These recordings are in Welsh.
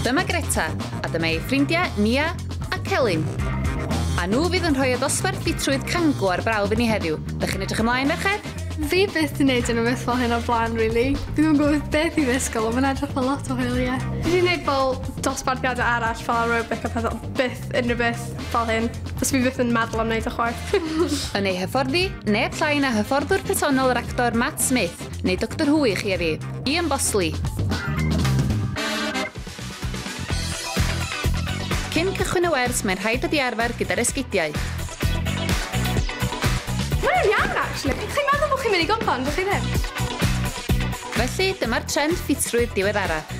Dyma Greta, a dyma ei ffrindiau Nia a Celyn. A nhw fydd yn rhoi y ddosbarth ffitrwydd cango ar brawf i ni heddiw. Dych chi'n edrych ymlaen, merched? Fi byth yn neud yn y beth fel hyn o'r blaen, really. Fi ddim yn gwybod beth i ddysgol, ond mae'n edrych fel lot o hwyl, ie. Fi wedi gwneud fel dosbarthiadau arall, fel aerobic a pethau, byth unrhyw beth fel hyn. Os fi byth yn meddwl am wneud o chwaith. Yn ei hyfforddi, neb llai na hyfforddwr personol yr actor Matt Smith, Neu Doctor Who i chi a fi. Ian Bosley! Cyn cychwyn y wers, mae'n rhaid ydi arfer gyda'r esgidiau. Mae'n iawn, actually. Pyd chi'n meddwl bod chi'n mynd i gwpan, bod chi ddim? Felly, dyma'r trend ffitrwydd diweddarach.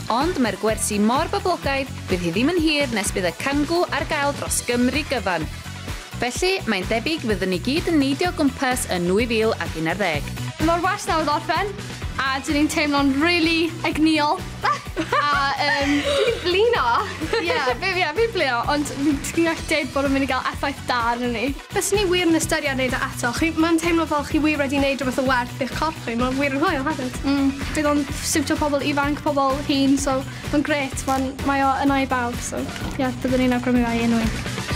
Ond mae'r gwersi mor boblogaidd, bydd hi ddim yn hir nes bydd y cangŵ ar gael dros Gymru gyfan. Felly, mae'n debyg fyddwn ni gyd yn neidio o gwmpas yn 2011. Mae'r wers newydd orffen a dw i'n teimlo'n rili egnïol a yym dw i'n blino! Ie, fi ie fi'n blino ond fi'n gallu deud bod o'n mynd i gael effaith da arnon ni. Fyswn i wir yn ystyried neud o eto. Chi, mae'n teimlo fel chi wir wedi neud rhywbeth o werth i'ch corff chi, mae wir yn hwyl hefyd. Mm, bydd o'n siwtio pobl ifanc, pobl hŷn, so mae'n grêt, mae'n, mae o yna i bawb, so ie, byddwn i'n awgrymu fe i unrhyw un.